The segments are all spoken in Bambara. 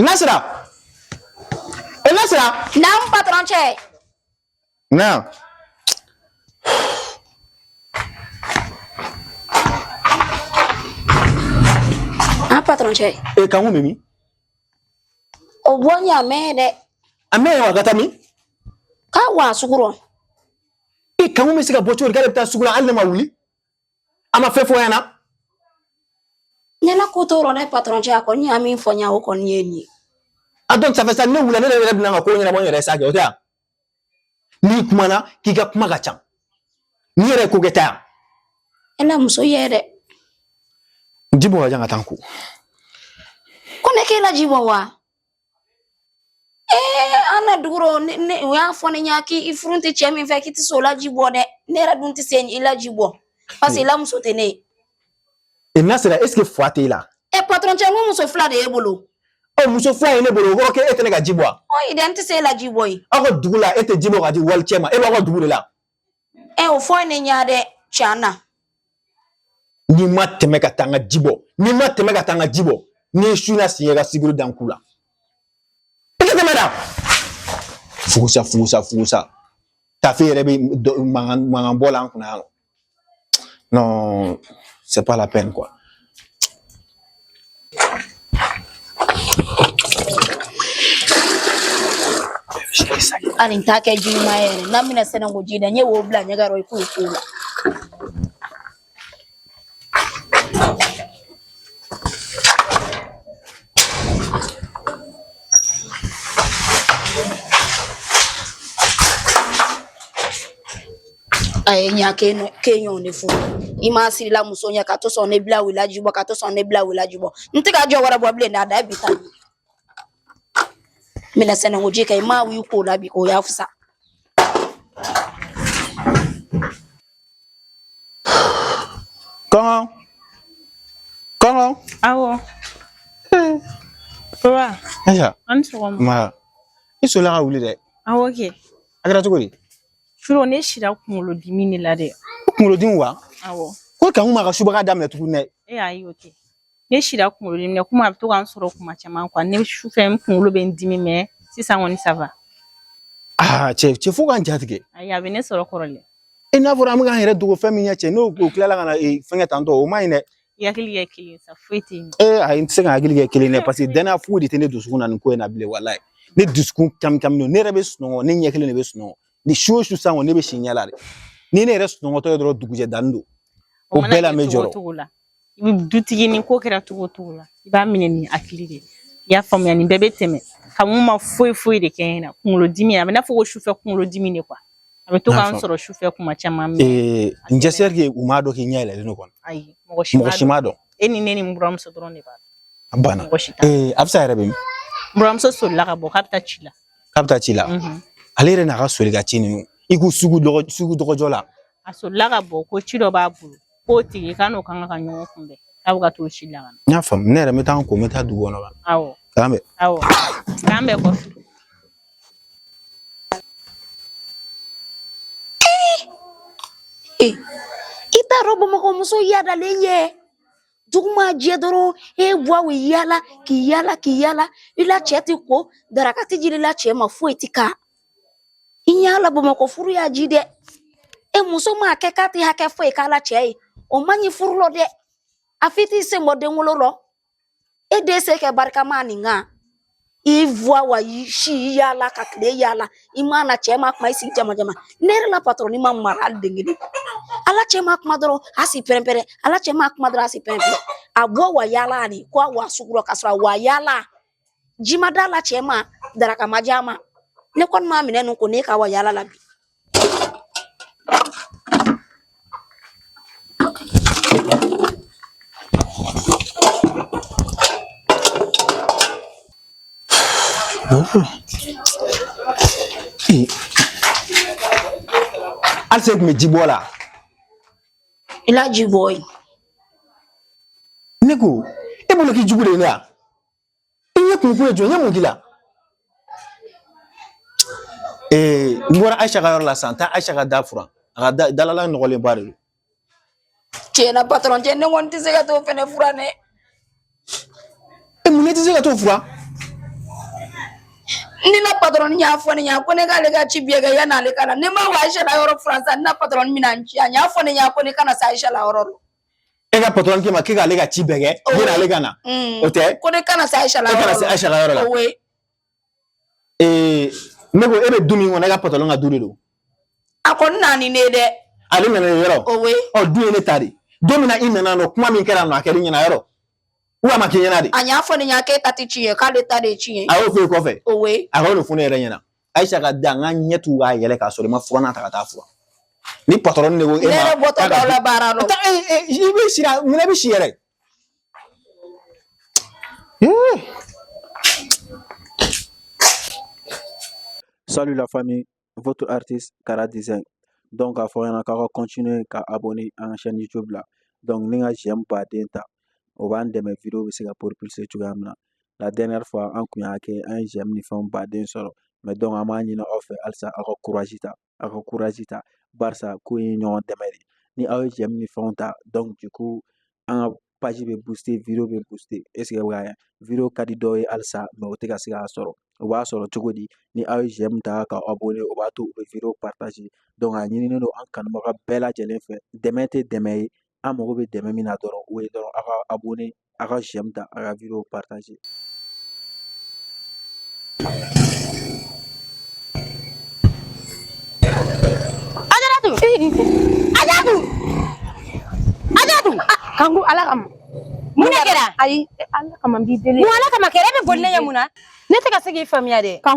Nasira Nasira naamu patɔrɔn cɛ naamu an patɔrɔn cɛ e Kanku bɛ min o bɔ ni a mɛn dɛ a mɛn wa ka taa min k'a wa sugu rɔ e Kanku bɛ se ka bɔ cogo di k'ale bɛ taa sugu la hali ne ma wuli a ma fɛn fɔ i ɲɛna ɲɛna ko t'o rɔ ne patɔrɔn cɛ a kɔni y'a min fɔ n ɲa o kɔni ye nin ye a dɔn ça fait ça ne wulila ne yɛrɛ bɛna n ka ko ɲɛnabɔ n yɛrɛ sa kɛ o tɛ yan n'i kumana k'i ka kuma ka ca nin yɛrɛ ye ko kɛta ye e na muso ye dɛ ji bɔ wa ja n ka taa n ko ko ne k'e la ji bɔ wa Ee an na dugu rɔ u y'a fɔ ne ɲɛna k'i furulen tɛ cɛ min fɛ k'i tɛ se o la ji bɔ dɛ ne yɛrɛ dun tɛ se i la ji bɔ parce que i la muso tɛ ne ye. E Nasira est-ce que fa t'e la. E patron cɛ n ko muso fila de y'e bolo. Ɔ muso fila ye ne bolo o kɔrɔ k'e tɛ ne ka ji bɔ wa. Ɔ i dɛ n tɛ se e la ji bɔ ye. Aw ka dugu la e tɛ ji bɔ k'a di walicɛ ma e b'aw ka dugu de la. ɛ o fɔ ne ɲa dɛ can na n'i ma tɛmɛ ka taa n ka ji bɔ n'i ma tɛmɛ ka taa n ka ji bɔ n'i ye su na sen yɛ ka siguru dan ku la i ka tɛmɛ da fugusa fugusa fugusa taafe yɛrɛ bɛ mankan bɔ la an kunna yan nɔ non c'est pas la peine quoi hali n t'a kɛ ji ɲuman yɛrɛ na minan sananko ji dan ye wo bila ɲɛgɛn rɔ i k'i ko o la A ye ɲa ke ɲɔn de fɔ i ma siran i la muso ɲɛ ka to sɔn ne bila i la ji bɔ ka to sɔn ne bila i la ji bɔ n t'i ka ji wɛrɛ bɔ bilen dɛ a da bi ta minan sananko ji kɛ i ma wuli k'o la bi o y'a fisa Kɔnkɔn. Kɔnkɔn. Awɔ. Papa. Ayiwa. An ni sɔgɔma. Nba. I sɔnna ka wuli dɛ. Awɔ kɛ. A kɛra cogo di? Surɔ ne sira kunkolodimi de la dɛ kunkolodimi wa awɔ ko Kanku m'a ka subaga daminɛ tuguni dɛ ayi o tɛ ne sira kunkolodimi na komi a bɛ to ka n sɔrɔ kuma caman quoi ne sufɛ n kunkolo bɛ n dimi mais sisan kɔni ça va aa cɛ cɛ fo k'an jatigɛ ayi a bɛ ne sɔrɔ kɔrɔlen e n'a fɔra an bɛ k'an yɛrɛ dogo fɛn min ɲɛ cɛ n'o tilala ka na ee, fɛngɛ tantɔ o man ɲi dɛ I hakili kɛ kelen sa foyi tɛ yen ee ayi n tɛ se ka hakili kɛ kelen dɛ paseke danaya foyi de tɛ ne dusukun na nin ko in na bilen walayi ne dusukun kami kami don ne yɛrɛ bɛ sunɔgɔ ne ɲɛ kelen de bɛ sunɔgɔ ni su o su san kɔni ne bɛ si ɲɛ la de ni ne yɛrɛ sunɔgɔtɔ ye dɔrɔn dugujɛ danni don o bɛɛ la n bɛ jɔrɔ cogo la i bɛ dutigi ni ko kɛra cogo o cogo la i b'a minɛ ni hakili de ye i y'a faamuya nin bɛɛ bɛ tɛmɛ ka mun ma foyi foyi de kɛ n na kunkolodimi a bɛ n na fo sufɛ kunkolodimi de kuwa A bɛ to ka n sɔrɔ sufɛ kuma caman j'espère que u m'a dɔn k'i ɲɛ yɛlɛ don kɔni ayi mɔgɔ si m'a dɔn e ni ne ni n buranmuso dɔrɔn de b'a a banna a bɛ se yɛrɛ n buranmuso sola ka bɔ ka taa ci la k'a bɛ taa ci la ale yɛrɛ n'a ka soli ka ci ninnu i ko sugu dɔgɔjɔ la a sola ka bɔ ko ci dɔ b'a bolo K'o tigi k'a n'o kan ka ɲɔgɔn kunbɛn k'a bɛ ka t'o ci la ka na. N y'a faamu ne yɛrɛ n bɛ taa n ko n bɛ taa dugu kɔnɔ ka na. Awɔ. K'an bɛn. Awɔ k'an bɛn kɔfɛ. i t'a dɔn bamakɔ muso yaadalen ye dugu ma jɛ dɔrɔn e bɔ wa i yaala k'i yaala k'i yaala i la cɛ tɛ ko daraka tɛ di i la cɛ ma foyi tɛ k'a i y'a la bamakɔ furu y'a ji dɛ e muso m'a kɛ k'a tɛ hakɛ foyi k'a la cɛ ye o man ɲi furu lɔ dɛ a f'i t'i sen bɔ denwolo lɔ e den se kɛ barikama nin kan i bɔ wa i si yaala ka tile yaala i m'a na cɛ ma kuma i si jaman jaman ne yɛrɛ la patɔrɔn ni ma mara hali den kelen a la cɛ ma kuma dɔrɔn a si pɛrɛnpɛrɛn a la cɛ ma kuma dɔrɔn a si pɛrɛnpɛrɛn a bɔ wa yaala ani ko a wa sugu rɔ ka sɔrɔ a wa yaala Ji ma d'a la cɛ ma daraka ma di a ma ne kɔni m'a minɛ ninnu ko ne ka wa yaala la bi hali se tun bɛ ji bɔ la i la ji bɔ ye ne ko e bolo k'i jugu de ye ne ya i ɲɛ kun ye jɔn ye mun k'i la ee n bɔra ayisa ka yɔrɔ la sisan taa ayisa ka da furan a ka da dalala nɔgɔlenba de don tiɲɛ na patɔrɔn cɛ ne kɔni tɛ se ka t'o fɛnɛ furan dɛ e mun ne tɛ se ka t'o furan ne na patɔrɔn y'a fɔ ne ɲɛna ko ne k'ale ka ci bɛɛ kɛ yan'ale ka na ne ma wa ayisa la yɔrɔ furan sisan ne na patɔrɔn bɛna n ci a y'a fɔ ne ɲɛna ko ne kana se ayisa la yɔrɔ la E ka patɔrɔn k'i ma k'e k'ale ka ci bɛɛ kɛ yan'ale ka na o tɛ ko ne kana se Ayisa ka yɔrɔ la e kana se Ayisa ka yɔrɔ la ee ne ko e bɛ du min kɔnɔ e ka patɔrɔn ka du de don a kɔni nana ni ne ye dɛ ale nana ni yɔrɔ o ye ɔ du in ne ta de don min na i nana nɔ kuma min kɛra nɔ a kɛra i ɲɛna yɔrɔ wa a ma k'i ɲɛna dɛ a y'a fɔ ne ɲɛna k'e ta tɛ ci ye k'ale ta de ye ci ye a y'o fɔ e kɔfɛ o ye a y'o de fɔ ne yɛrɛ ɲɛna Ayisa ka di an ka ɲɛ tugu k'a yɛlɛ k'a sɔrɔ i ma furannan ta ka taa furan ni patɔrɔn de ko e ma ne yɛrɛ bɔtɔ dɔw la baara dɔ taa ee ee i bɛ si mun bɛ si yɛrɛ Salut la famille, votre artiste Kara Design. Donc, a fɔ aw ka continuer ka abonner an ka chaîne YouTube la. Donc, ani ka j'aime baden ta, o b'an dɛmɛ vidéo bɛ se ka propulser cogoya min na. la dernière fois an kun y'a kɛ an ye j'aime ni fɛnw baden sɔrɔ mais donc an b'a ɲini aw fɛ halisa aw ka courage ta aw ka courage ta barisa ko in ye ɲɔgɔn dɛmɛ de ni aw ye j'aime ni fɛnw ta donc du coup an ka page bɛ booster video bɛ booster est ce que bɛ ka video ka di dɔw ye halisa mais u tɛ ka se k'a sɔrɔ o b'a sɔrɔ cogo di ni aw ye j'aime ta ka abonner o b'a to u bɛ video partager donc a ɲininen don an kanubaga bɛɛ lajɛlen fɛ dɛmɛ tɛ dɛmɛ ye an mago bɛ dɛmɛ min na dɔrɔn o ye dɔrɔn aw ka abonner a ka j'aime ta a ka video partager kanku ala kama mun kɛra ayi ala kama b'i deli ala kama k'e yɛrɛ bɛ boli ne ɲɛ mun na ne tɛ ka se k'i faamuya de kan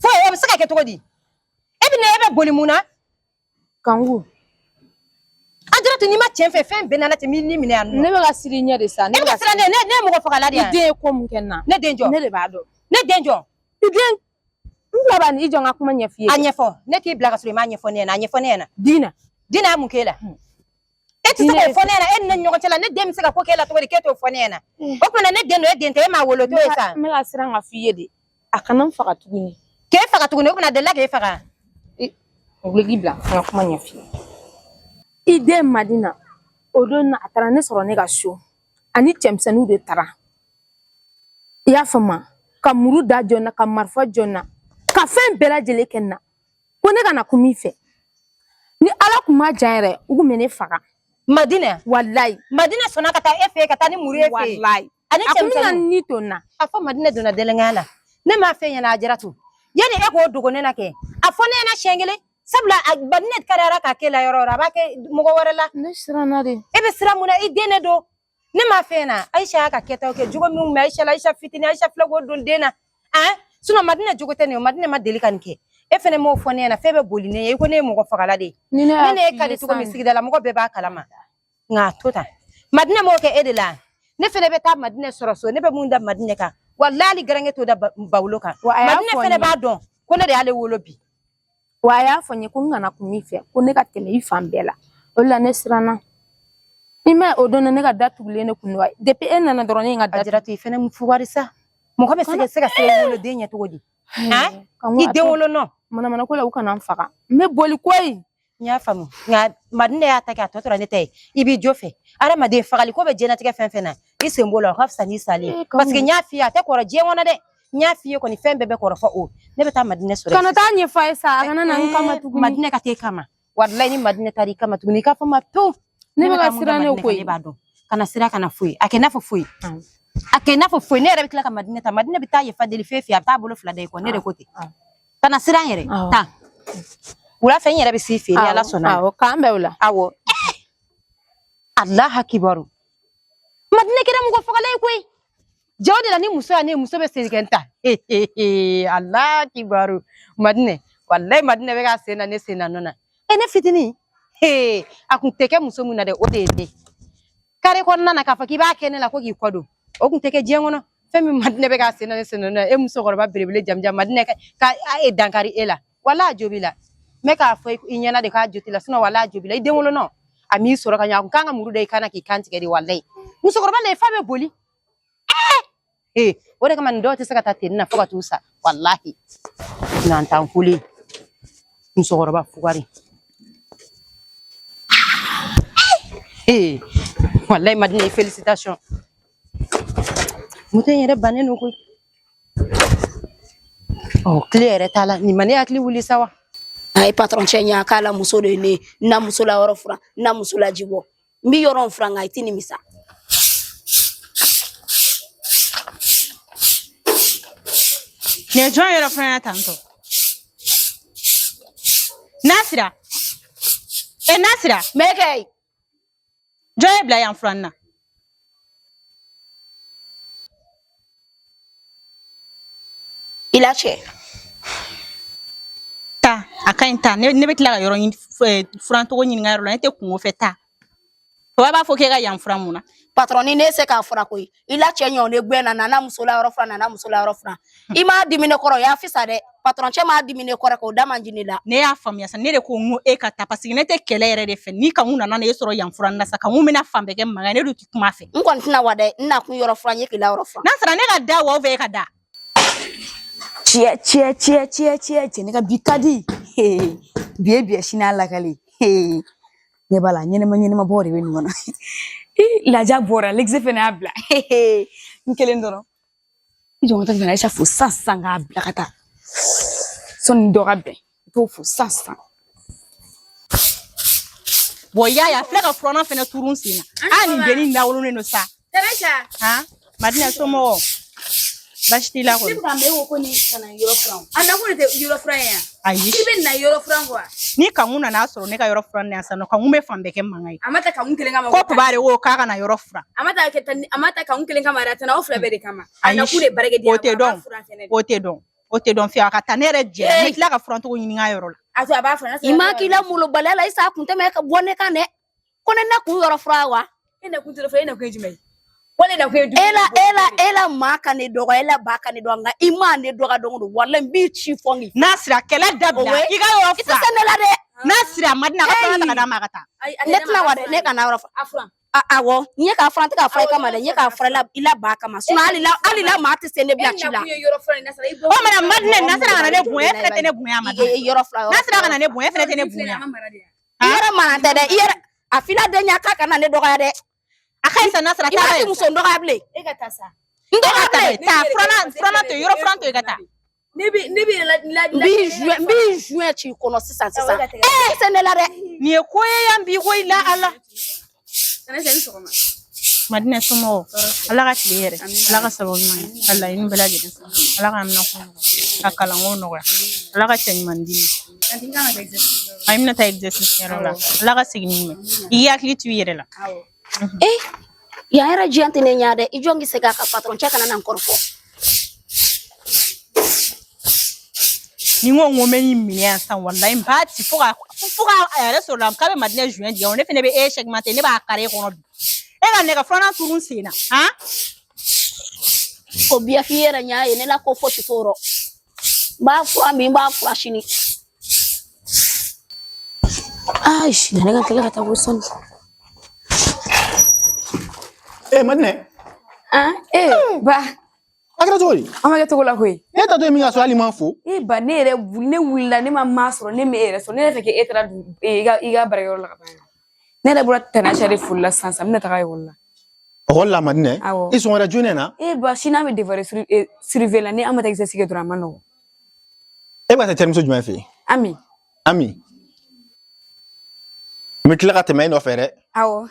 fo o bɛ se ka kɛ cogo di e bɛ na e bɛ boli mun na kanku ajaratu n'i ma cɛn fɛ fɛn bɛɛ nana ten min ni minɛ yan nɔ ne bɛ ka siran i ɲɛ de sa ne bɛ ka siran ne ne ne ye mɔgɔ fagala de ye i den ye ko min kɛ n na ne den jɔn ne de b'a dɔn ne den jɔn i den n bila b'a ni i jɔ n ka kuma ɲɛf'i ye a ɲɛfɔ ne k'i bila ka sɔrɔ i m'a ɲɛfɔ ne ɲɛna a ɲɛfɔ ne ɲɛna dina dina mun k'e la e tɛ se k'o fɔ ne ɲɛna e ni ne ni ɲɔgɔn cɛ la ne den bɛ se ka ko k'e la cogo di k'e t'o fɔ ne ɲɛna o tuma ne den don e den tɛ e m'a wolo a to yen sa n bɛ ka siran k'a f'i ye de a kana n faga tuguni k'e faga tuguni o tuma delila k'e faga o bɛ k'i bila n ka kuma ɲɛf'i ye i den madina o don na a taara ne sɔrɔ ne ka so ani cɛmisɛnninw de taara i y'a faamu ka muru da jɔ n na ka marifa jɔ n na ka fɛn bɛɛ lajɛlen kɛ n na ko ne kana kuma i fɛ ni ala tun ma jan yɛrɛ u tun bɛ ne faga madina walayi madina sɔnna ka taa e fɛ ka taa ni muru y'e fɛ walayi ani cɛmisɛnnin ni to na a fɔ madina donna delɛnkanya la ne m'a f'e ɲɛna ajaratu yanni e k'o dogo ne na kɛ a fɔ ne ɲɛna siɲɛ kelen sabula madina karira k'a k'e la yɔrɔ yɔrɔ a b'a kɛ mɔgɔ wɛrɛ la ne siranna de e bɛ siran mun na i den de don ne ma fɛn na ayisa y'a ka kɛtaw kɛ jogo minnu bɛ ayisa la ayisa fitini ayisa filɛ k'o don den na ɛn sinɔn madina jogo tɛ nin ye madina ma deli ka nin kɛ e fɛnɛ m'o fɔ ne ɲɛna f'e bɛ boli ne ɲɛ i ko ne ye mɔgɔ fagala de ye ne ne ye ka di cogo min sigidala mɔgɔ bɛɛ b'a kalama nka a to tan madina m'o kɛ e de la ne fɛnɛ bɛ taa madina sɔrɔ so ne bɛ mun da madina kan walayi hali garanke t'o da ba- bawolo kan walayi madina fɛnɛ b'a dɔn ko ne de y'ale wolo bi Wa a y'a fɔ n ye ko n kana kuma i fɛ ko ne ka tɛmɛ i fan bɛɛ la o la ne siranna i ma o don na ne ka da tugulen ne kun wa depi e nana dɔrɔn ne ye n ka da jira to i fɛnɛ mun fugari sa mɔgɔ bɛ se ka se ka se wolo den ɲɛ cogo di i den wolo nɔ manamana ko la u kana n faga n bɛ boli koyi n y'a faamu nka madinɛ y'a ta kɛ a tɔ tora ne ta ye i b'i jo fɛ adamaden fagali ko bɛ diɲɛlatigɛ fɛn fɛn na i sen b'o la o ka fisa n'i salen ye parce que n y'a f'i ye a tɛ kɔrɔ diɲɛ kɔnɔ dɛ n y'a f'i ye kɔni fɛn bɛɛ bɛ kɔrɔ fo o ne bɛ taa madinɛ sɔrɔ kana taa ɲɛfɔ a ye sa a kana na n kama tuguni madinɛ ka t'e kama walayi ni madinɛ taar'i kama tuguni i k'a fɔ ma pewu ne bɛ ka siran ne ko ne b'a dɔn kana siran kana foyi a kɛ n'a fɔ foyi a kɛ n'a fɔ foyi ne yɛrɛ bɛ tila ka madinɛ ta madinɛ bɛ taa yafa deli fɛn fɛ a bɛ taa bolo fila da i kɔ ne de ko ten kana siran yɛrɛ tan wula fɛ n yɛrɛ bɛ s'i fɛ ni ala sɔnna awɔ k'an bɛn wula awɔ alahu akibaru madinɛ kɛra mɔgɔ fagala ye koyi jɛ o de la ni muso y'a ne muso bɛ segin ta alahu akibaru madinɛ walayi madinɛ bɛ ka sen na ne sen na nɔ na e ne fitinin a kun tɛ kɛ muso min na dɛ o de ye ne kare kɔnɔna na k'a fɔ k'i b'a kɛ ne la ko k'i k'o dɔn o kun tɛ kɛ diɲɛ kɔnɔ fɛn min madinɛ bɛ ka sen na ne sen na nɔ na e musokɔrɔba belebele jamanjan madinɛ ka i dankari e la wala a jo b'i la mɛ k'a fɔ i ɲɛna de k'a jo t'i la sinɔn wala a jo b'i la i den wolonɔ a m'i sɔrɔ ka ɲɛ a kun kan ka muru da i kan na k'i kan tigɛ de walayi musokɔrɔba la i fa bɛ boli Eh, o de kama nin dɔw tɛ se ka taa ten na fo ka t'u sa walahi nantan kule musokɔrɔba fugari ee eh, walayi madinɛ felicitation moto in yɛrɛ bannen don koyi ɔ kile yɛrɛ t'a la nin ma ne hakili wuli sa wa a ye patɔrɔn cɛ ɲa k'a la muso de ye ne na muso la yɔrɔ furan na muso la ji bɔ n bɛ yɔrɔ in furan nka i tɛ nimisa ne ye jɔn yɔrɔ furan yan tantɔ nasira e nasira mɛ kɛ jɔn y'e bila yan furanni na I la cɛ taa a ka ɲi taa ne bɛ tila ka yɔrɔ in furancogo ɲininka yɛrɛ la ne tɛ kungo fɛ taa o b'a fɔ k'e ka yan furan mun na patɔrɔn ni ne se k'a furan koyi i la cɛ ɲɔ ne gɛn na nana muso la yɔrɔ furan nana muso la yɔrɔ furan i ma dimi ne kɔrɔ y'a fisa dɛ patɔrɔn cɛ ma dimi ne kɔrɔ k'o da man di ne la ne y'a faamuya sa ne de ko n ko e ka taa paseke ne tɛ kɛlɛ yɛrɛ de fɛ ni kanku nana ne e sɔrɔ yan furan na sa kanku bɛna fan bɛɛ kɛ mankan ne dun tɛ kuma fɛ n kɔni tɛna wa dɛ n na kun yɔrɔ furan ye k'i la yɔrɔ furan n'a sera ne ka da wa e ka da tiɲɛ tiɲɛ tiɲɛ tiɲɛ tiɲɛ cɛ ne ka bi ka di bi ye bi ye sini a lakali ne b'a la ɲɛnɛma ɲɛnɛma bɔ de bɛ nin kɔnɔ laja bɔra legisi fana y'a bila n kelen dɔrɔn I jɔ ka taa fo sisan sisan k'a bila ka taa sɔni dɔ ka bɛn i t'o fo sisan sisan bon i y'a ye a filɛ ka furanan fɛnɛ turu n sen na a nin dennin lawololen don sa madina somɔgɔ basi t'i la kɔni ko ne kana yɔrɔ furan a nakun de tɛ yɔrɔ furan ye yan ayi i bɛ na yɔrɔ furan kɔ wa ni kankun nana a sɔrɔ ne ka yɔrɔ furan na yan sisan nɔ kankun bɛ fan bɛɛ kɛ mankan ye a ma ta kankun kelen kama ko papa de ko k'a kana yɔrɔ furan a ma ta kɛ tan a ma ta kankun kelen kama yɛrɛ a tara aw fila bɛɛ de kama a Ayi, nakun de baarakɛ de ye o tɛ dɔn o tɛ dɔn o tɛ dɔn fiye a ka taa ne yɛrɛ jɛ Ee. ne tila ka furancogo ɲini n ka yɔrɔ la a to a b'a furan i ma k'i la molobaliya la i sa kun tɛmɛ ka bɔ ne kan dɛ Ko ne nakun yɔrɔ furan wa? I nakun tɛ furan i nakun ye jumɛn ye. Walayi i nakun ye. E la e la e la man kan ne dɔgɔ e la bɛ ka ne dɔn nka i mana ne dɔgɔya dongo dɔrɔn walayi n b'i ci fo n k'i. Nasira kɛlɛ dabila. I ka yɔrɔ furan. I tɛ se ne la dɛ. Nasira madina ka furanan ta k'a d'a ma ka taa. Ne tɛna wa dɛ ne kana yɔrɔ furan. A furan. Awɔ n ye k'a furan n tɛ k'a furan i kama dɛ n ye k'a furan i la ba kama sinɔn hali la hali la maa tɛ se ne bila ci la. o mana madinɛ nasira kana ne bonya e fana tɛ ne bonya ma. yɔrɔ furan yɔrɔ furan nasira kana ne bonya e fana tɛ ne bonya. i yɛrɛ maralen tɛ dɛ i yɛrɛ a f'i la den ɲa k'a kana ne dɔgɔya dɛ a ka ɲi sa nasira i ma ti muso n dɔgɔya bilen e ka taa sa n dɔgɔya ta dɛ taa furalan furalan to yen yɔrɔ furan to yen ka taa ne bi ne bi la la n b'i juin n b'i juin ci kɔnɔ sisan sisan e se ne la dɛ nin ye ko ye yan bi ko i la ala madinɛ somɔgɔw ala ka tile hɛrɛ ala ka sababu ɲuman ye ka laɲini bɛɛ lajɛlen sɔrɔ ala ka minɛ ko ka kalanko nɔgɔya ala ka cɛ ɲuman d'i ma a bɛna taa exercice yɔrɔ la ala ka segin ni i k'i hakili to i yɛrɛ la ee yan yɛrɛ jɛlen tɛ ne ɲɛ dɛ i jɔ n k'i se k'a ka patɔrɔn cɛ kana na n kɔrɔfɔ ni n ko n ko n bɛ nin minɛ yan sisan walayi n b'a ci fo ka fo ka a yɛrɛ sɔrɔ la k'a bɛ madinɛ juɲɛ jigin ne fɛnɛ bɛ e segmenter ne b'a kari e kɔnɔ bi e kana e ka furanan turu n sen na han ko biyafi yɛrɛ n y'a ye ne la ko fosi t'o rɔ n b'a furan bi n b'a furan sini Ay, shi ne ka tila ka taga o san. Eh, madinɛ. Ah, eh, eh. ba. A kɛra cogo di? A ma kɛ cogo la koyi. E taatɔ ye min ka sɔrɔ hali i ma n fo. Eh ba ne yɛrɛ ne wulila ne ma maa sɔrɔ ne m'e yɛrɛ sɔrɔ ne yɛrɛ fɛ k'e taara i ka i ka baarakɛyɔrɔ la ka ban. ne yɛrɛ bɔra tɛrɛsa de foli la sisan sisan n bɛna taga ekɔli la ekɔli la madinɛ i sɔgɔma jɔnɛ na e ba sini an bɛ devoir surveillé la ni an ma taa exercice kɛ dɔrɔn a man nɔgɔ e bɛ taa terimuso jumɛn fɛ yen ami ami n bɛ tila ka tɛmɛ e nɔfɛ dɛ awɔ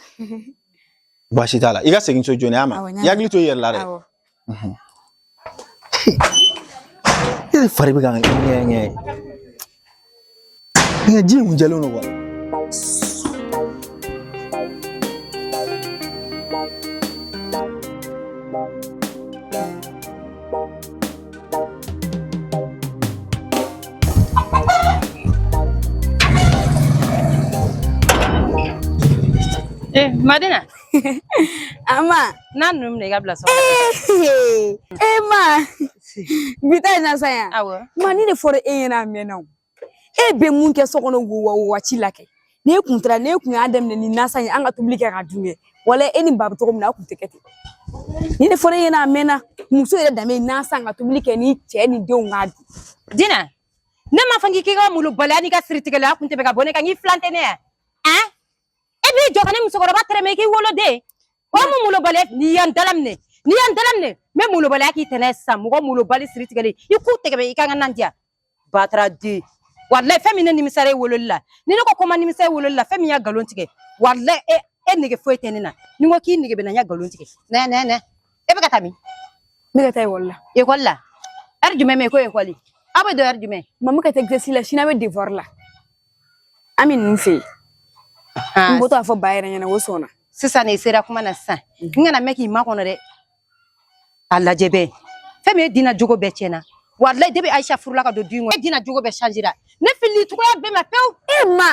baasi t'a la i ka segin so jɔnɛ a ma i hakili to i yɛrɛ la dɛ Ne de fari bɛ ka ŋɛɲɛ ŋɛɲɛ ŋa ji in kun jɛlen don wa Madina a ma n'a ninnu minɛ i ka bila so e ma bi ta in na sa yan ma nin de fɔra e ɲɛna a mɛnna o e bɛ mun kɛ so kɔnɔ wo waati la kɛ n'e kun taara n'e kun y'a daminɛ ni nasa ye an ka tobili kɛ ka dun kɛ wala e ni ba bɛ cogo min na a kun tɛ kɛ ten nin de fɔra e ɲɛna a mɛnna muso yɛrɛ danbe nasa ka tobili kɛ ni cɛ ni denw k'a dun dina ne ma fɔ k'i k'i ka molobaliya n'i ka siritigɛ la a kun tɛ bɛ ka bɔ ne kan k'i filan tɛ ne ye e b'i jɔ ka ne musokɔrɔba tɛrɛmɛ k'i wolo den o mun molobaliya n'i y'an dalaminɛ n'i y'an dalaminɛ n bɛ molobaliya k'i tɛnɛ sisan mɔgɔ molobali siri tigɛlen i k'u tɛgɛ i ka n ka nan diya bataraden walayi fɛn min ne nimisara e wololi la ni ne ko ko n ma nimisa e wololi la fɛn min n ye nkalon tigɛ walayi e e nege foyi tɛ ne na ni n ko k'i nege bɛ n na n ye nkalon tigɛ nɛ nɛ nɛ e bɛ ka taa min n bɛ ka taa ekɔli la ekɔli la ɛri jumɛn bɛ yen ko ekɔli aw bɛ don ɛri jumɛn maman ka taa exercice la sini an bɛ devuwari la ami ninnu fɛ yen n bɔtɔ a fɔ ba yɛrɛ ɲɛna o sɔnna sisan ne sera kuma na sisan n kana mɛn k'i makɔnɔ dɛ a lajɛ bɛɛ fɛn min ye dina jogo bɛɛ tiɲɛna walayi depuis ayisa furula ka don du in kɔnɔ e dina jogo bɛɛ changera ne fili cogoya bɛɛ ma pewu e ma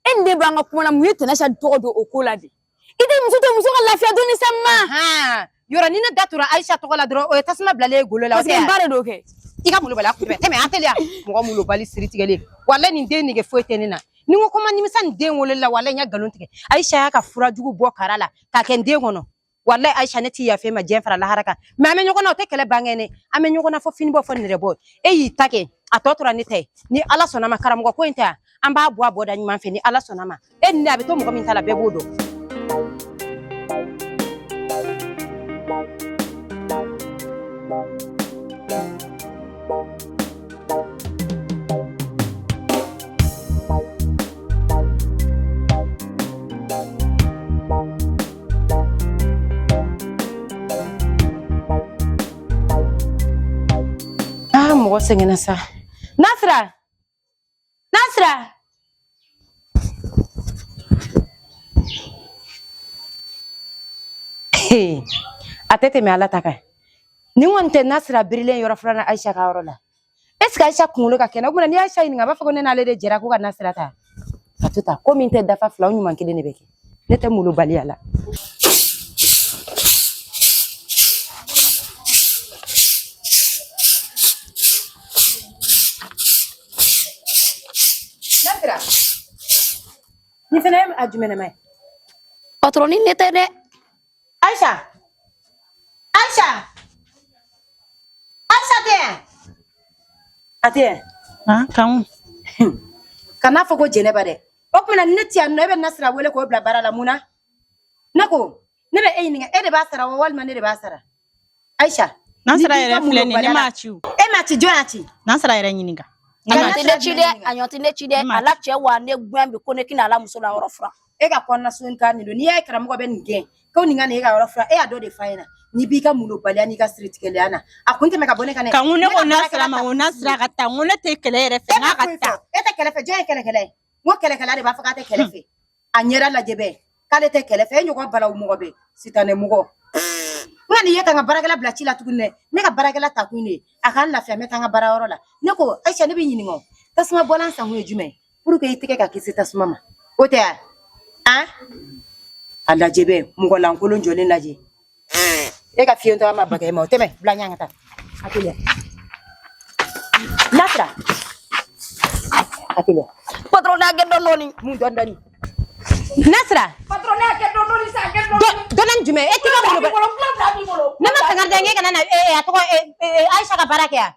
e ni ne b'an ka kuma na mun ye tɛnɛ ayisa tɔgɔ don o ko la de i tɛ muso to muso ka lafiya dɔnni sa ma yɔrɔ ni ne da tura ayisa tɔgɔ la dɔrɔn o ye tasuma bilalen ye golo la parce que n ba de don kɛ i ka molobaliya kunbɛ tɛmɛ yan teliya mɔgɔ molobali siri tigɛlen walayi nin den nege foyi tɛ ne na ni n ko ko n ma nimisa nin den wololi la walayi n ye nkalon tigɛ ayisa y'a ka fura jugu bɔ kara la k'a kɛ n den kɔnɔ walayi ayisa ne tɛ yafa e ma diɲɛ fara lahara kan mais an bɛ ɲɔgɔn na o tɛ kɛlɛ ban kɛ ne an bɛ ɲɔgɔn na fɔ fini bɔ fɔ nɛrɛ bɔ e y'i ta kɛ a tɔ tora ne ta ye ni ala sɔnna ma karamɔgɔ ko in ta yan an b'a bɔ a bɔda ɲuman fɛ ni ala sɔnna ma e ni ne a bɛ to mɔgɔ min ta la bɛɛ b'o dɔn mɔgɔ sɛgɛnna sa nasira nasira a tɛ tɛmɛ ala ta kan nin kɔni tɛ nasira birilen yɔrɔ filanan ayisa ka yɔrɔ la est ce que ayisa kunkolo ka kɛnɛ o kuma na n'i ye ayisa ɲininka a b'a fɔ ko ne n'ale de jɛra ko ka nasira ta ka to ta ko min tɛ dafa fila o ɲuman kelen de bɛ kɛ ne tɛ molobaliya la ni fana ye a jumɛnɛma ye patɔrɔn ni ne tɛ dɛ ayisa ayisa ayisa tɛ yan a tɛ yan kanku kana fɔ ko jɛnɛba dɛ o tuma na ne ti yan nɔ e bɛ nasira wele k'o bila baara la mun na ne ko ne bɛ e ɲininka e de b'a sara wa walima ne de b'a sara ayisa nasira yɛrɛ filɛ nin ye ne m'a ci o e m'a ci jɔn y'a ci nasira yɛrɛ ɲininka a ɲɔgɔn tɛ ne ci dɛ a ɲɔgɔn tɛ ne ci dɛ a la cɛ wa ne gɛn bi ko ne tɛna a la muso la yɔrɔ furan e ka kɔnɔna sun ta nin don n'i y'a ye karamɔgɔ bɛ nin gɛn ko nin kana e ka yɔrɔ furan e y'a dɔ de fa ɲɛna n'i b'i ka mulobaliya n'i ka siritigɛlenya na a kun tɛmɛ ka bɔ ne kan dɛ kanku ne ko nasira ma n ko nasira ka taa n ko ne tɛ kɛlɛ yɛrɛ fɛ n'a ka taa e tɛ kɛlɛ fɛ jɔn ye kɛlɛkɛla ye n ko kɛlɛkɛla de b'a fɔ k'a tɛ kɛlɛ fɛ a ɲɛda lajɛ bɛɛ k'ale tɛ kɛlɛ fɛ e ɲɔgɔn balawu mɔgɔ bɛ sitanɛ mɔgɔ n kan'i ye ka n ka baarakɛla bila ci la tuguni dɛ ne ka baarakɛla ta kun de ye a k'an lafiya n bɛ taa n ka baarayɔrɔ la ne ko ayisa ne b'i ɲininka o tasuma bɔlan san kun ye jumɛn ye pour que i tɛgɛ ka kisi tasuma ma o tɛ a an a lajɛ bɛ mɔgɔ lankolon jɔlen lajɛ e ka fiyentɔ ma bagɛ ma o tɛmɛ bila ɲɛ ka taa a teliya nasira a teliya patron a kɛ dɔɔni dɔɔni mun dɔɔni dɔɔni nasira patron a kɛ dɔɔni dɔɔni sa kɛ dɔɔni dɔɔni jumɛn e tɛgɛ bolo ne ma sanga dɛ n kana na a sɔrɔ aisha ka baara kɛ yan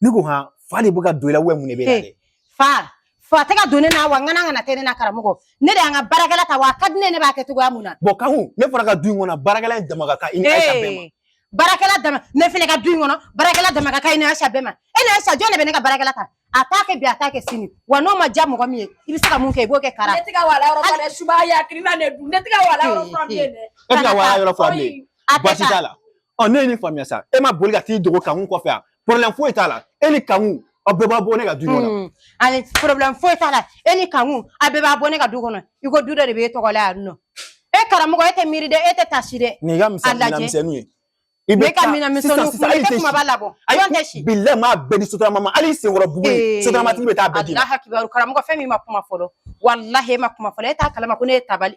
ne ko han fa de bɛ ka don i la mun de b'e la dɛ fa fa tɛ ka don ne na wa n kana kana tɛ ne na karamɔgɔ ne de ye n ka baarakɛla ta wa a ka di ne ye ne b'a kɛ cogoya min na bɔn kanku ne fana ka du in kɔnɔ baarakɛla in dama ka kan i ni ayisa bɛɛ ma baarakɛla dama ne fana ka du in kɔnɔ baarakɛla dama ka kan i ni ayisa bɛɛ ma e ni ayisa jɔn de bɛ ne ka baarakɛla ta a t'a kɛ bi a t'a kɛ sini wa n'o ma diya mɔgɔ min ye i bɛ se ka mun kɛ i b'o kɛ kara ne tɛ ka wala yɔrɔ furan dɛ suba y'a kirina ne dun ne tɛ ka wala yɔrɔ furan bilen dɛ e tɛ ka wala yɔrɔ furan bilen baasi t'a la ɔ ne ye nin faamuya sa e ma boli ka t'i dogo kanku kɔfɛ yan porobilɛmu foyi t'a la e ni kanku aw bɛɛ bɛ bɔ ne ka du kɔnɔ hmm. ani porobilɛmu foyi t'a la e ni kanku aw bɛɛ bɛ bɔ ne ka du kɔnɔ i ko du dɔ de b'e tɔgɔ la yan nɔ e karamɔgɔ e tɛ miiri dɛ e tɛ tasi dɛ nin y'i ka minɛnmisɛnninw ye i b'i ka minɛnmisɛnninw kun i tɛ kumaba labɔ ayi tɛ si bilɛ maa bɛɛ di sotarama ma hali senkɔrɔ bugu ye sotaramatigi bɛ taa bɛɛ d'i ma alahu akibaru karamɔgɔ fɛn min ma kuma fɔlɔ walahi e ma kuma fɔlɔ e t'a kalama ko ne ye tabali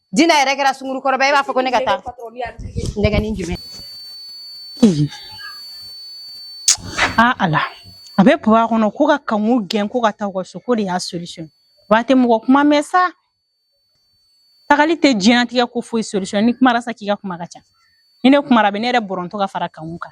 Dina yɛrɛ kɛra sungurukɔrɔba e b'a fɔ ko ne ka taa nɛgɛnin jumɛn a ala a bɛ papa kɔnɔ ko ka kanku gɛn ko ka taa u ka so k'o de y'a solution ba tɛ mɔgɔ kuma mɛn sa tagali tɛ diɲɛnatigɛ ko foyi solution n'i kumara sa k'i ka kuma ka ca ni ne kumara a bɛ ne yɛrɛ bɔrɔntɔ ka fara kanku kan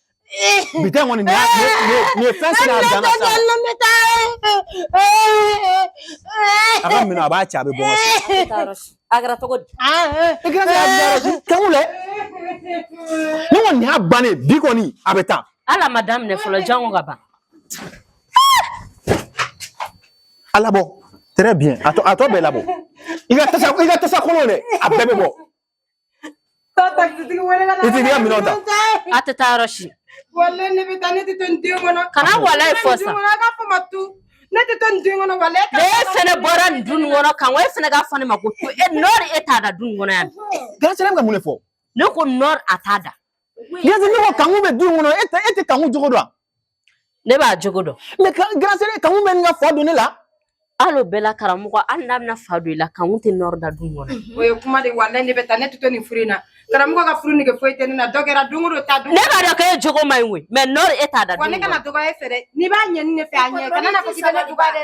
Bi ta in kɔni nin ye fɛn sera a dan na sa. A ka minɛn a b'a cɛ a bɛ bɔ. A kɛra cogo di? Grand sœur. Kankun lɛ. Ne kɔni nin y'a bannen bi kɔni a bɛ taa. Hali a ma daminɛ fɔlɔ jango ka ban. A labɔ très bien a tɔ a tɔ bɛɛ labɔ i ka tasa i ka tasa kolon dɛ a bɛɛ bɛ bɔ. a tɛ taa yɔrɔ si kana walayi fɔ sa ne tɛ to nin du in kɔnɔ walayi ne fɛnɛ bɔra nin du in kɔnɔ kan wa e fɛnɛ k'a fɔ ne ma ko to e nɔri e t'a da du in kɔnɔ yan grand sœur bɛ ka mun de fɔ ne ko nɔri a t'a da Grand sœur ne ko kankun bɛ du kɔnɔ e tɛ e tɛ kankun jogo dɔn ne b'a jogo dɔn mais grand sœur kankun bɛ ɲini ka fa don ne la hali o bɛɛ la karamɔgɔ hali n'a bɛna fa don i la kankun tɛ nɔri da du kɔnɔ o ye kuma de walayi ne bɛ taa ne tɛ to nin furu in na karamɔgɔ ka furu nege foyi tɛ ne na dɔ kɛra don o don ta don ne b'a dɔn k'e jogo man ɲi koyi mais nɔri e t'a da wa ne kana dɔgɔya e fɛ dɛ n'i b'a ɲini ne fɛ a ɲɛ kana na fɔ k'i bɛ ne dɔgɔya dɛ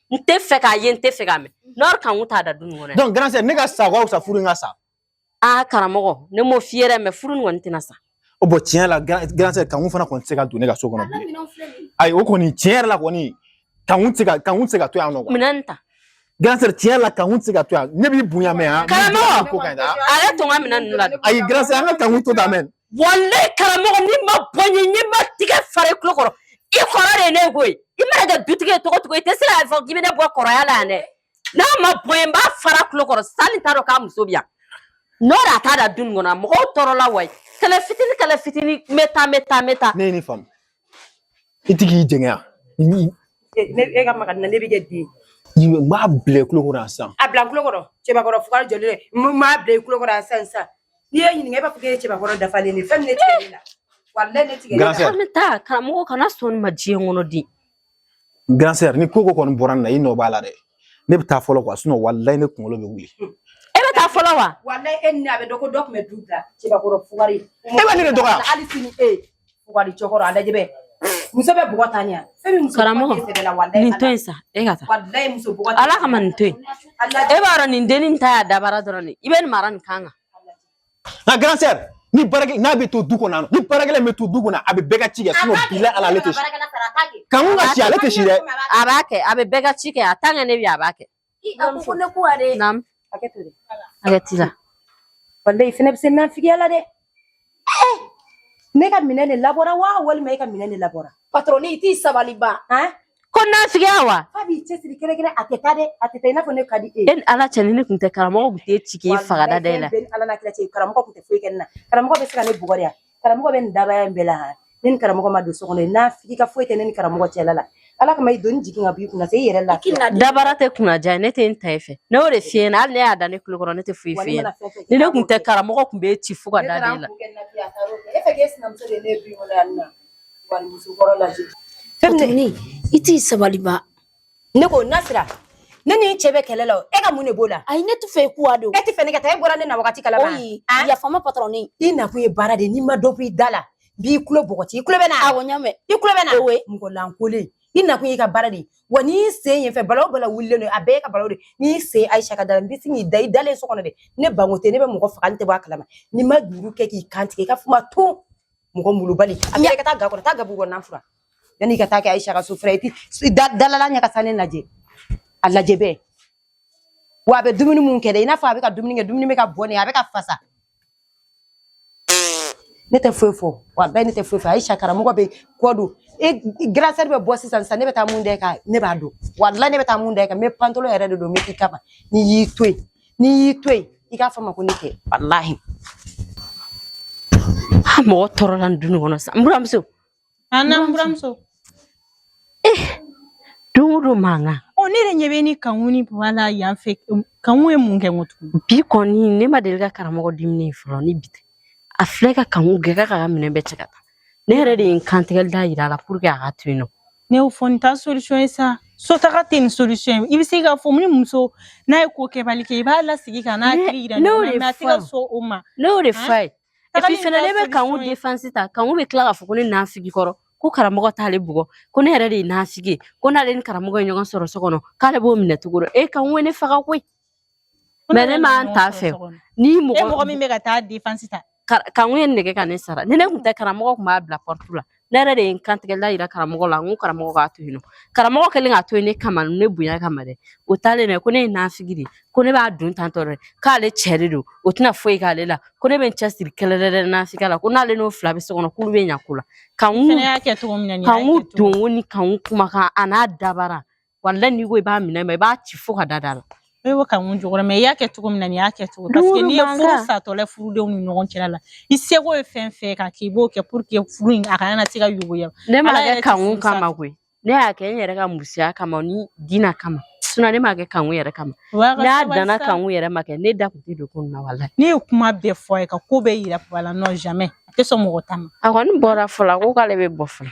n tɛ fɛ k'a ye n tɛ fɛ k'a mɛn nɔri kankun t'a da du in kɔnɔ donc grand sœur ne ka sa ka fisa furu in ka sa aa karamɔgɔ ne m'o f'i ye dɛ mais furu nin kɔni tɛna sa o bon tiɲɛ la grand sœur kankun fana kɔni tɛ se ka don ne ka so kɔnɔ bilen ayi o kɔni tiɲɛ yɛrɛ la kɔni kankun tɛ se ka kankun tɛ se ka to yan nɔ minɛn ta grand sœur tiɲɛ la kankun tɛ se ka to yan ne b'i bonya mɛn yan karamɔgɔ ale to n ka minɛn ninnu la ayi grand sœur an ka kankun to ta mɛn walayi karamɔgɔ n'i ma bɔ n ɲɛ ne bɛ n tɛgɛ fara i tulo kɔrɔ i kɔrɔ de ye ne koyi i mana kɛ dutigi ye cogo o cogo i tɛ se k'a fɔ k'i bɛ ne bɔ kɔrɔya la yan dɛ n'a ma bɔ yen n b'a fara tulo kɔrɔ sani t'a dɔn k'a muso bɛ yan nɔri a t'a da du nin kɔnɔ mɔgɔw tɔɔrɔ la wayi kɛlɛ fitini kɛlɛ fitini n bɛ taa n bɛ taa n bɛ taa ne ye nin faamu i tɛ k'i jɛngɛ yan Ni- E ne e ka maga n na ne bɛ kɛ den. i n b'a bila i kulo kɔrɔ yan sisan A bila n kulo kɔrɔ cɛbakɔrɔ fugari jɔlen dɛ. N b'a bila i kulo kɔrɔ yan sisan sisan. N'i y'e ɲininka e b'a fɔ k'e ye cɛbakɔrɔ dafalen de ye. Fɛn min ne tigɛlen e la. Walayi ne tigɛlen e la. Grand sœur. An bɛ taa karamɔgɔ kana sɔn nin ma diɲɛ kɔnɔ dɛ grand sœur ni ko ko kɔni bɔra nin na i nɔ b'a la dɛ ne bɛ taa fɔlɔ quoi sinon walayi ne kunkolo bɛ wuli e bɛ taa fɔlɔ wa walayi e ni a bɛ dɔn ko dɔ tun bɛ du bila cɛbakɔrɔ fugari e bɛ ne de dɔgɔya hali sini e fugari cɛkɔrɔ a lajɛ bɛ muso bɛ bugɔ ta ɲɛ karamɔgɔ nin to yen sa e ka taa ala kama nin to yen e b'a dɔn nin dennin ta y'a dabara dɔrɔn de i bɛ nin mara nin kan kan nka grand sœur ni baarakɛla bɛ to du kɔnɔ yan ni baarakɛla bɛ to du kɔnɔ a bɛ bɛɛ ka ci kɛ sinon bilahi ale tɛ si kankun ka si ale tɛ si dɛ a b'a kɛ a bɛ bɛɛ ka ci kɛ a tant que ne bɛ yen a b'a kɛ a ko ko ne ko ale naamu hakɛ to dɛ hakɛ t'i la walayi e fɛnɛ bɛ se nafigiya la dɛ ne ka minɛn de labɔra wa walima e ka minɛn de labɔra patɔrɔni i t'i sabali ba ko nafigiya wa fa b'i cɛsiri kɛrɛkɛrɛn a tɛ taa dɛ a tɛ taa i n'a fɔ ne ka di e ye e ni ala cɛ ni ne tun tɛ karamɔgɔ tun t'i ci k'i faga da da e la ala n'a kira cɛ karamɔgɔ tun tɛ foyi kɛ ne na karamɔgɔ bɛ se ka ne bugɔ de karamɔgɔ bɛ nin dabaya in bɛɛ la ne ni karamɔgɔ ma don so kɔnɔ nafigi ka foyi tɛ ne ni karamɔgɔ cɛla la ala kama i doni jigin ka b'i kunna se i yɛrɛ lafiya dabara tɛ kunna diya ne tɛ n ta e fɛ ne y'o de f'i ɲɛna hali ne y'a da ne kulo kɔrɔ ne tɛ foyi f'i ɲɛna ni ne tun tɛ karamɔgɔ tun b'e ci fo ka da da e la e fɛ k'e sinamuso de ye ne ye du in kɔnɔ yan nɔ i t'i sabali ne ko Nasira ne ni cɛ bɛ kɛlɛ la e ka mun de b'o la a ne tɛ fɛ ku don e tɛ fɛ ne ka taa e bɔra ne na waati kalama yafa ma patron i nakun ye baara de ye n'i ma dɔ bɔ i da la b'i kulo bɔgɔti i kulo bɛ na i mɔgɔlankolon i nakun ye i ka baara de ye wa n'i sen yen fɛ bala o bala wulilen don a bɛɛ e ka bala n'i sen ayisa ka da la n bɛ sin k'i da i dalen so kɔnɔ dɛ ne bange tɛ ne bɛ mɔgɔ faga n tɛ bɔ a kalama n'i ma juru kɛ k'i kantigɛ i ka kuma to mɔgɔ malobali a bɛ ka taa ga kɔrɔ taa gabugu kɔnɔ fura yanni i ka taa kɛ ayisa ka so fura ye i dalala ɲɛ ka sa ne lajɛ a lajɛ bɛɛ wa a bɛ dumuni mun kɛ dɛ i n'a fɔ a bɛ ka dumuni kɛ dumuni bɛ ka bɔ ne a bɛ ka fasa ne tɛ foyi fɔ wa bɛɛ ne tɛ foyi fɔ ayisa karamɔgɔ bɛ kɔ don e grande sœur bɛ bɔ sisan sisan ne bɛ taa mun da i kan ne b'a dɔn walayi ne bɛ taa mun da i kan n bɛ pantalon yɛrɛ de don n bɛ k'i kama n'i y'i to yen n'i y'i to yen i k'a fɔ ma ko ne tɛ walahi a mɔgɔ tɔɔrɔla nin duni kɔnɔ sa n buramuso an n'an buramuso eh, don o don mankan ɔ ne yɛrɛ ɲɛ bɛ ni kanku ni bala yan fɛ kanku ye mun kɛ n ko tugun bi kɔni ne ma deli ka karamɔgɔ diminen fɔlɔ ni bi tɛ a filɛ ka kanku gɛn k'a ka minɛn bɛɛ cɛ ka taa ne yɛrɛ de ye n kantigɛli da yira a la pour que a ka to yen nɔ ne y'o fɔ nin t'a solution ye sa so taga tɛ nin solution ye i bɛ se k'a fɔ ni muso n'a ye ko kɛbali kɛ i b'a lasigi ka n'a Ne- hakili yira ne y'o ɲɔgɔn de na mais a tɛ ka fɔ. sɔn o ma ne y'o de Hein? f'a ye Tagali et puis fɛnɛ t'a ne bɛ kanku solution ye. défense ta kanku bɛ tila k'a fɔ ko ne nafigi kɔrɔ ko karamɔgɔ t'ale bugɔ ko ne yɛrɛ de ye nafigi ye ko n'ale ni karamɔgɔ ye ɲɔgɔn sɔrɔ so kɔnɔ k'ale b'o minɛ cogo dɔ e kanku ye ne faga koyi Mais ne m'an ta fɛ ni mɔgɔ mɔgɔ min bɛ ka taa défense ta kanku ye nɛgɛ ka ne sara ni ne tun tɛ karamɔgɔ tun b'a bila porte la ne yɛrɛ de ye n kantigɛla yira karamɔgɔ la n ko karamɔgɔ k'a to yen nɔ karamɔgɔ kɛlen k'a to yen ne kama ne bonya kama dɛ o taalen dɛ ko ne ye nafigi de ko ne b'a dun tantɔ dɛ k'ale cɛ de don o tɛna foyi k'ale la ko ne bɛ n cɛsiri kɛlɛ dɛ nafigiya la ko n'ale n'o fila bɛ so kɔnɔ k'olu bɛ ɲa ko la kan kan don ni kanku kumakan a n'a dabara walahi n'i ko i b'a minɛ ma i b'a ci fo ka da da la i bɛ ka mun jɔyɔrɔ mais i y'a kɛ cogo min na nin y'a kɛ cogo parce que n'i ye furu satɔla furudenw ni ɲɔgɔn cɛla la i seko ye fɛn fɛn ka k'i b'o kɛ pour que furu in a kana na se ka yogoya ne m'a kɛ kanku kama koyi ne y'a kɛ n yɛrɛ ka musoya kama ni dina kama sinon ne m'a kɛ kanku yɛrɛ kama n'a danna kanku yɛrɛ ma kɛ ne da kun tɛ don ko nin na walahi ne ye kuma bɛɛ fɔ a ye ka ko bɛɛ yira papa la non jamais a tɛ sɔn mɔgɔ ta ma a kɔni bɔra fɔlɔ ko k'ale bɛ bɔ fɔlɔ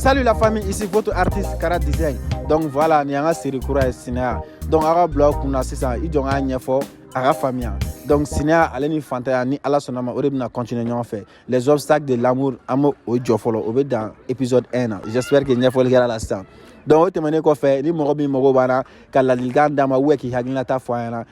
Salut la famille, ici votre artiste Kara Design. Donc voilà, ni an ka série kura ye Sinaya. Donc a ka blog kunna sisan i jɔ n k'a ɲɛfɔ a ka faamuya. Donc Sinaya ale ni fantanya ni Ala sɔnn'a ma o de bɛna continuer ɲɔgɔn fɛ. Les obstacles de l'amour an b'o jɔ fɔlɔ o bɛ dan épisode 1 na. J'espère que ɲɛfɔli kɛra la sisan. Donc o tɛmɛnen kɔfɛ ni mɔgɔ min mago b'an na ka ladilikan d'an ma ou bien k'i hakilinata fɔ an ɲɛna